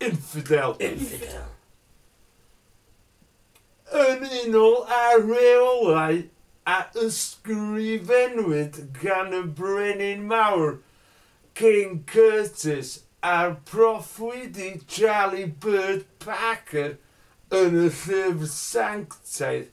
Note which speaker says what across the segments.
Speaker 1: infidel. Infidel. Yn unol â rheolau a ysgrifennwyd gan y Brenin Mawr, King Curtis, a'r proffwydi Charlie Bird Parker yn y llyfr Sanctaidd,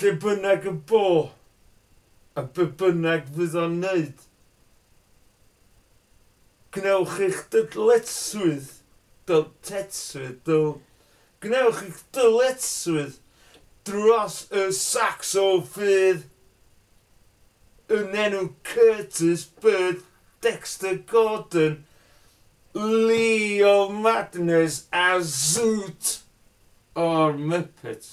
Speaker 1: Lle bynnag y bo, a be bynnag fydd o'n wneud, gwnewch eich dyletswydd, dyletswydd, dyl, gwnewch eich dyletswydd dros y Sacsofydd yn enw Curtis Byrd, Dexter Gordon, Lee of Madness a Zoot o'r Muppets.